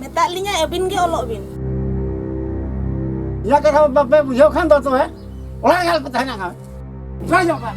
ᱢᱮᱛᱟᱜ ᱞᱤᱧᱟ ᱟᱹᱵᱤᱱ ᱜᱮ ᱚᱞᱚᱜ ᱵᱤᱱ ᱤᱧᱟᱹᱜ ᱠᱟᱛᱷᱟ ᱵᱟᱯᱮ ᱵᱩᱡᱷᱟᱹᱣ ᱠᱷᱟᱱ ᱫᱚ ᱛᱚᱵᱮ ᱚᱲᱟᱜ ᱨᱮ ᱟᱞᱚᱯᱮ ᱛᱟᱦᱮᱱᱟ ᱠᱷᱟᱱ ᱡᱚᱭ ᱧᱚᱜ ᱠᱟᱱ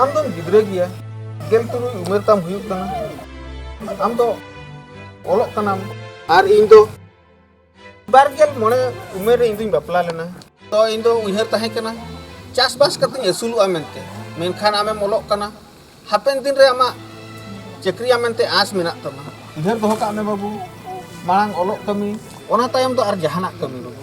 ᱟᱢ ᱫᱚᱢ ᱜᱤᱫᱽᱨᱟᱹ ᱜᱮᱭᱟ ᱜᱮᱞ ᱛᱩᱨᱩᱭ ᱩᱢᱮᱨ ᱛᱟᱢ ᱦᱩᱭᱩᱜ ᱠᱟᱱᱟ ᱟᱢ ᱫᱚ ᱚᱞᱚᱜ ᱠᱟᱱᱟᱢ ᱟᱨ ᱤᱧ ᱫᱚ ᱵᱟᱨ ᱜᱮᱞ ᱢᱚᱬᱮ ᱩᱢᱮᱨ ᱨᱮ ᱤᱧ ᱫᱚᱧ ᱵᱟᱯᱞᱟ ᱞᱮᱱᱟ ᱛᱚ ᱤᱧ ᱫᱚ ᱩᱭᱦᱟᱹᱨ ᱛᱟᱦᱮᱸ ᱠᱟᱱᱟ ᱪᱟᱥᱵᱟᱥ ᱠᱟᱛᱮᱧ ᱟᱹᱥᱩᱞᱚᱜᱼᱟ ᱢᱮᱱᱛᱮ ᱢᱮᱱᱠᱷᱟᱱ ᱟᱢᱮᱢ ᱚᱞᱚᱜ ᱠᱟᱱᱟ ᱦᱟᱯᱮᱱ ᱫᱤᱱ ᱨᱮ ᱟᱢᱟᱜ ᱪᱟᱹᱠᱨᱤᱭᱟ ᱢᱮᱱᱛᱮ ᱟᱸᱥ ᱢᱮᱱᱟᱜ ᱛᱟᱢᱟ ᱩᱭᱦᱟᱹᱨ ᱫᱚᱦᱚ ᱠᱟᱜ ᱢᱮ ᱵᱟᱹᱵᱩ ᱢᱟᱲᱟᱝ ᱚᱞᱚᱜ ᱠᱟᱹᱢᱤ ᱚᱱᱟ ᱛᱟᱭᱚᱢ ᱫᱚ ᱟᱨ ᱡᱟᱦᱟᱱᱟᱜ ᱠᱟᱹᱢᱤ ᱵᱟᱹᱵᱩ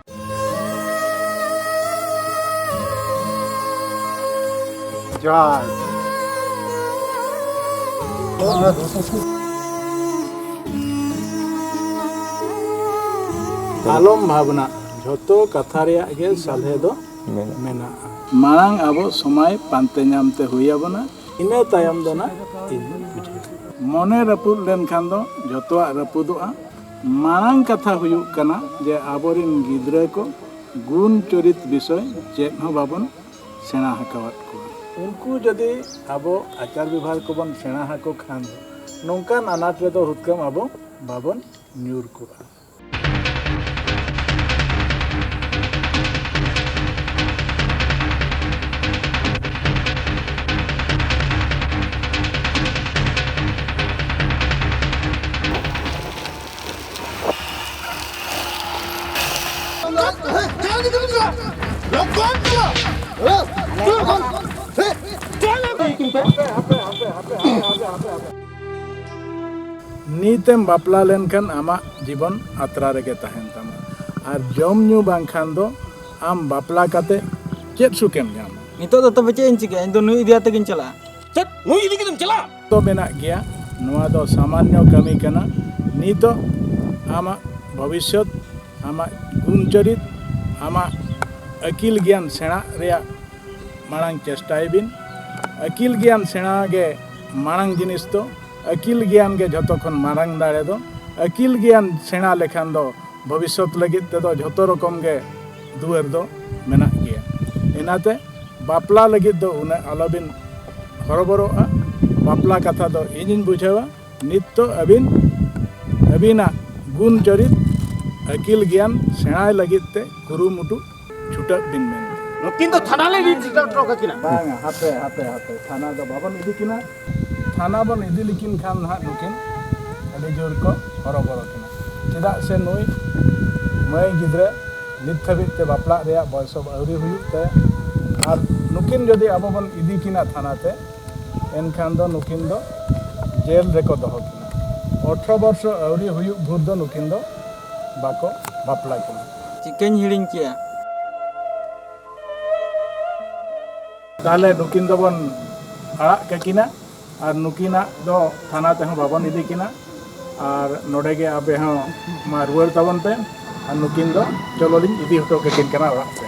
John. ᱟᱞᱚᱢ ᱵᱷᱟᱵᱽᱱᱟ ᱡᱷᱚᱛᱚ ᱠᱟᱛᱷᱟ ᱨᱮᱭᱟᱜ ᱜᱮ ᱥᱟᱞᱦᱮ ᱫᱚ ᱢᱮᱱᱟᱜᱼᱟ ᱢᱟᱲᱟᱝ ᱟᱵᱚ ᱥᱚᱢᱟᱭ ᱯᱟᱱᱛᱮ ᱧᱟᱢ ᱛᱮ ᱦᱩᱭ ᱟᱵᱚᱱᱟ ᱤᱱᱟᱹ ᱛᱟᱭᱚᱢ ᱫᱚ ᱱᱟᱜ ᱤᱧ ᱵᱩᱡᱷᱟᱹᱣ ᱢᱚᱱᱮ ᱨᱟᱹᱯᱩᱫ ᱞᱮᱱᱠᱷᱟᱱ ᱫᱚ ᱡᱷᱚᱛᱚᱣᱟᱜ ᱨᱟᱹᱯᱩᱫᱚᱜᱼᱟ ᱢᱟᱲᱟᱝ ᱠᱟᱛᱷᱟ ᱦᱩᱭᱩᱜ ᱠᱟᱱᱟ ᱡᱮ ᱟᱵᱚᱨᱤᱱ ᱜᱤᱫᱽᱨᱟᱹ ᱠᱚ ᱜᱩᱱ ᱪᱚᱨᱤᱛ ᱵᱤᱥᱚᱭ ᱪᱮᱫ ᱦᱚᱸ ᱵᱟᱵᱚᱱ ᱥᱮᱬᱟ ᱟᱠᱟᱣᱟᱫ ᱠᱚᱣᱟ ᱩᱱᱠᱩ ᱡᱩᱫᱤ ᱟᱵᱚ ᱟᱪᱟᱨ ᱵᱮᱵᱷᱟᱨ ᱠᱚᱵᱚᱱ ᱥᱮᱬᱟ ᱟᱠᱚ ᱠᱷᱟᱱ ᱱᱚᱝᱠᱟᱱ ᱟᱱᱟᱴ ᱨᱮᱫᱚ ᱦᱩᱛᱠᱟᱹᱢ ᱟᱵᱚ ᱵᱟᱵᱚᱱ ᱧᱩᱨ ᱠᱚᱜᱼᱟ ᱱᱤᱛᱮᱢ ᱵᱟᱯᱞᱟ ᱞᱮᱱᱠᱷᱟᱱ ᱟᱢᱟᱜ ᱡᱤᱵᱚᱱ ᱟᱛᱨᱟ ᱨᱮᱜᱮ ᱛᱟᱦᱮᱱ ᱛᱟᱢᱟ ᱟᱨ ᱡᱚᱢ ᱧᱩ ᱵᱟᱝᱠᱷᱟᱱ ᱫᱚ ᱟᱢ ᱵᱟᱯᱞᱟ ᱠᱟᱛᱮ ᱪᱮᱫ ᱥᱩᱠᱮᱢ ᱧᱟᱢᱟ ᱱᱤᱛᱚᱜ ᱫᱚ ᱛᱚᱵᱮ ᱪᱮᱫ ᱤᱧ ᱪᱤᱠᱟᱹᱭᱟ ᱤᱧ ᱫᱚ ᱱᱩᱭ ᱤᱫᱤ ᱟᱛᱮ ᱜᱤᱧ ᱪᱟᱞᱟᱜᱼᱟ ᱪᱮᱫ ᱱᱩᱭ ᱤᱫᱤ ᱠᱟᱛᱮᱢ ᱪᱟᱞᱟᱜᱼᱟ ᱫᱚ ᱢᱮᱱᱟᱜ ᱜᱮᱭᱟ ᱱᱚᱣᱟ ᱫᱚ ᱥᱟᱢᱟᱱᱱᱚ ᱠᱟᱹᱢᱤ ᱠᱟᱱᱟ ᱱᱤᱛᱚᱜ ᱟᱢᱟᱜ ᱵᱷᱚᱵᱤᱥᱥᱚᱛ ᱟᱢᱟᱜ ᱜᱩᱱ ᱪᱚᱨᱤᱛ ᱟᱢᱟᱜ ᱟᱹᱠᱤᱞ ᱜᱮᱭᱟᱱ ᱥᱮᱬᱟ ᱨᱮᱭᱟᱜ ᱢᱟᱲᱟᱝ ᱪᱮᱥᱴᱟᱭ ᱵᱤᱱ ᱟᱹᱠᱤᱞ ᱜᱮᱭᱟᱱ ᱥᱮᱬᱟ ᱜᱮ ᱢᱟᱲᱟᱝ ᱡᱤᱱᱤᱥ ᱫᱚ ᱟᱹᱠᱤᱞ ᱜᱮᱭᱟᱱ ᱜᱮ ᱡᱷᱚᱛᱚ ᱠᱷᱚᱱ ᱢᱟᱨᱟᱝ ᱫᱟᱲᱮ ᱫᱚ ᱟᱹᱠᱤᱞ ᱜᱮᱭᱟᱱ ᱥᱮᱬᱟ ᱞᱮᱠᱷᱟᱱ ᱫᱚ ᱵᱷᱚᱵᱤᱥᱥᱚᱛ ᱞᱟᱹᱜᱤᱫ ᱛᱮᱫᱚ ᱡᱷᱚᱛᱚ ᱨᱚᱠᱚᱢ ᱜᱮ ᱫᱩᱣᱟᱹᱨ ᱫᱚ ᱢᱮᱱᱟᱜ ᱜᱮᱭᱟ ᱤᱱᱟᱛᱮ ᱵᱟᱯᱞᱟ ᱞᱟᱹᱜᱤᱫ ᱫᱚ ᱩᱱᱟᱹᱜ ᱟᱞᱚᱵᱤᱱ ᱦᱚᱨᱚᱵᱚᱨᱚᱜᱼᱟ ᱵᱟᱯᱞᱟ ᱠᱟᱛᱷᱟ ᱫᱚ ᱤᱧᱤᱧ ᱵᱩᱡᱷᱟᱹᱣᱟ ᱱᱤᱛᱚᱜ ᱟᱹᱵᱤᱱ ᱟᱹᱵᱤᱱᱟᱜ ᱜᱩᱱ ᱪᱚᱨᱤᱛ ᱟᱹᱠᱤᱞ ᱜᱮᱭᱟᱱ ᱥᱮᱬᱟᱭ ᱞᱟᱹᱜᱤᱫ ᱛᱮ ᱠᱩᱨᱩᱢᱩᱴᱩ ᱪᱷᱩᱴᱟᱹᱜ ᱵᱤᱱ ᱢᱮᱱᱛᱮ ᱱᱩᱠᱤᱱ ᱫᱚ ᱛᱷᱟᱱᱟ ᱞᱮ ᱤᱫᱤ ᱦᱚᱴᱚ ᱠᱟᱹᱠᱤᱱᱟ ᱵᱟᱝᱟ ᱦᱟᱯᱮ ᱦᱟᱯᱮ ᱦᱟᱯᱮ ᱛᱷᱟᱱᱟ ᱫᱚ ᱵᱟᱵᱚᱱ ᱤᱫᱤ ᱠᱤᱱᱟ ᱛᱷᱟᱱᱟ ᱵᱚᱱ ᱤᱫᱤ ᱞᱮᱠᱤᱱ ᱠᱷᱟᱱ ᱱᱟᱦᱟᱜ ᱱᱩᱠᱤᱱ ᱟᱹᱰᱤ ᱡᱳᱨ ᱠᱚ ᱦᱚᱨᱚᱵᱚᱨᱚ ᱠᱤᱱᱟ ᱪᱮᱫᱟᱜ ᱥᱮ ᱱᱩᱭ ᱢᱟᱹᱭ ᱜᱤᱫᱽᱨᱟᱹ ᱱᱤᱛ ᱫᱷᱟᱹᱵᱤᱡ ᱛᱮ ᱵᱟᱯᱞᱟᱜ ᱨᱮᱭᱟᱜ ᱵᱚᱭᱚᱥ ᱦᱚᱸ ᱟᱹᱣᱨᱤ ᱦᱩᱭᱩᱜ ᱛᱟᱭᱟ ᱟᱨ ᱱᱩᱠᱤᱱ ᱡᱩᱫᱤ ᱟᱵᱚ ᱵᱚᱱ ᱤᱫᱤ ᱠᱤᱱᱟ ᱛᱷᱟᱱᱟ ᱛᱮ ᱮᱱᱠᱷᱟᱱ ᱫᱚ ᱱᱩᱠᱤᱱ ᱫᱚ ᱡᱮᱞ ᱨᱮᱠᱚ ᱫᱚᱦᱚ ᱠᱤᱱᱟ ᱚᱴᱷᱨᱚ ᱵᱚᱨᱥᱚ ᱟᱹᱣᱨᱤ ᱦᱩᱭᱩᱜ ᱵᱷᱳᱨ ᱫᱚ ᱱᱩᱠᱤᱱ ᱫᱚ ᱵᱟᱠᱚ ᱵᱟᱯᱞᱟ ᱠᱤᱱᱟ ᱪᱤᱠᱟᱹᱧ ᱦᱤᱲᱤᱧ ᱠᱮᱜᱼᱟ ᱛᱟᱦᱚᱞᱮ ᱱᱩᱠᱤᱱ ᱫᱚᱵᱚᱱ ᱟᱲᱟᱜ ᱠᱟᱹᱠᱤᱱᱟ ᱟᱨ ᱱᱩᱠᱤᱱᱟᱜ ᱫᱚ ᱛᱷᱟᱱᱟ ᱛᱮᱦᱚᱸ ᱵᱟᱵᱚᱱ ᱤᱫᱤ ᱠᱤᱱᱟ ᱟᱨ ᱱᱚᱰᱮ ᱜᱮ ᱟᱯᱮ ᱦᱚᱸ ᱢᱟ ᱨᱩᱣᱟᱹᱲ ᱛᱟᱵᱚᱱ ᱯᱮ ᱟᱨ ᱱᱩᱠᱤᱱ ᱫᱚ ᱪᱚᱞᱚ ᱞᱤᱧ ᱤᱫᱤ ᱦᱚᱴᱚ ᱠᱟᱹᱠᱤᱱ ᱠᱟᱱᱟ ᱚᱲᱟᱜ ᱛᱮ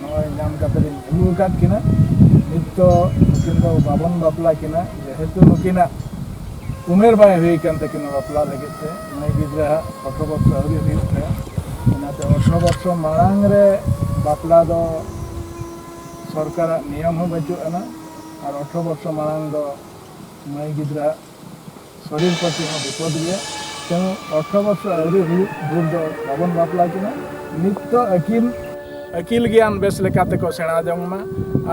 ᱱᱚᱜᱼᱚᱭ ᱧᱟᱢ ᱠᱟᱛᱮ ᱞᱤᱧ ᱟᱹᱜᱩ ᱟᱠᱟᱫ ᱠᱤᱱᱟ ᱱᱤᱛ ᱫᱚ ᱱᱩᱠᱤᱱ ᱫᱚ ᱵᱟᱵᱚᱱ ᱵᱟᱯᱞᱟ ᱠᱤᱱᱟ ᱡᱮᱦᱮᱛᱩ ᱱᱩᱠᱤᱱᱟᱜ ᱩᱢᱮᱨ ᱵᱟᱭ ᱦᱩᱭ ᱠᱟᱱ ᱛᱟᱹᱠᱤᱱᱟ ᱵᱟᱯᱞᱟ ᱞᱟᱹᱜᱤᱫ ᱛᱮ ᱢᱟᱹᱭ ᱜᱤᱫᱽᱨᱟᱹ ᱦᱟᱜ ᱚᱴᱷᱨᱚ ᱵᱚᱪᱷᱚᱨ ᱟᱹᱣᱨᱤ ᱦᱩᱭᱩᱜ ᱛᱟᱭᱟ ᱚᱱᱟᱛᱮ ᱚᱴᱷᱨᱚ ᱵᱚᱪᱷᱚᱨ ᱢᱟᱲᱟᱝ ᱨᱮ ᱵᱟᱯᱞᱟ ᱫᱚ ᱥᱚᱨᱠᱟᱨᱟᱜ ᱱᱤᱭᱚᱢ ᱦᱚᱸ ᱵᱟᱹᱪᱩᱜ ᱟᱱᱟ ᱟᱨ ᱚᱴᱷᱨᱚ ᱵᱚᱪᱷᱚᱨ ᱢᱟᱲᱟᱝ ᱫᱚ ᱢᱟᱹᱭ ᱜᱤᱫᱽᱨᱟᱹ ᱥᱚᱨᱤᱨ ᱯᱟᱹᱛᱤ ᱦᱚᱸ ᱵᱤᱯᱚᱫ ᱜᱮᱭᱟ ᱛᱮᱱᱩ ᱚᱴᱷᱨᱚ ᱵᱚᱪᱷᱚᱨ ᱟᱹᱣᱨᱤ ᱦᱩᱭᱩᱜ ᱵᱷᱳᱨ ᱫᱚ ᱵᱟᱵᱚᱱ ᱵᱟᱯᱞᱟ ᱠᱤᱱᱟ ᱱᱤᱛ ᱫᱚ ᱟᱹᱠᱤᱞ ᱟᱹᱠᱤᱞ ᱜᱮᱭᱟᱱ ᱵᱮᱥ ᱞᱮᱠᱟ ᱛᱮᱠᱚ ᱥᱮᱬᱟ ᱡᱚᱝ ᱢᱟ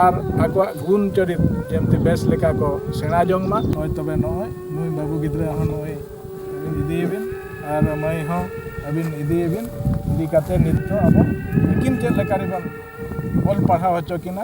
ᱟᱨ ᱟᱠᱚᱣᱟᱜ ᱜᱩᱱ ᱪᱚᱨᱤᱛ ᱡᱮᱢᱛᱤ ᱵᱮᱥ ᱞᱮᱠᱟ ᱠᱚ ᱥᱮᱬᱟ ᱡᱚᱝ ᱢᱟ ᱦᱳᱭ ᱛᱚᱵᱮ ᱱᱚᱜᱼᱚᱭ ᱱᱩᱭ ᱵᱟᱹᱵᱩ ᱜᱤᱫᱽᱨᱟᱹ ᱦᱚᱸ ᱱᱚᱜᱼᱚᱭ ᱟᱹᱵᱤᱱ ᱤᱫᱤᱭᱮᱵᱤᱱ ᱟᱨ ᱢᱟᱹᱭ ᱦᱚᱸ ᱟᱹᱵᱤᱱ ᱤᱫᱤᱭᱮᱵᱤᱱ ᱤᱫᱤ ᱠᱟᱛᱮ ᱱᱤᱛ ᱫᱚ ᱟᱵᱚ ᱟᱹᱠᱤᱱ ᱪᱮᱫ ᱞᱮᱠᱟ ᱨᱮᱵᱚᱱ ᱚᱞ ᱯᱟᱲᱦᱟᱣ ᱦᱚᱪᱚ ᱠᱤᱱᱟ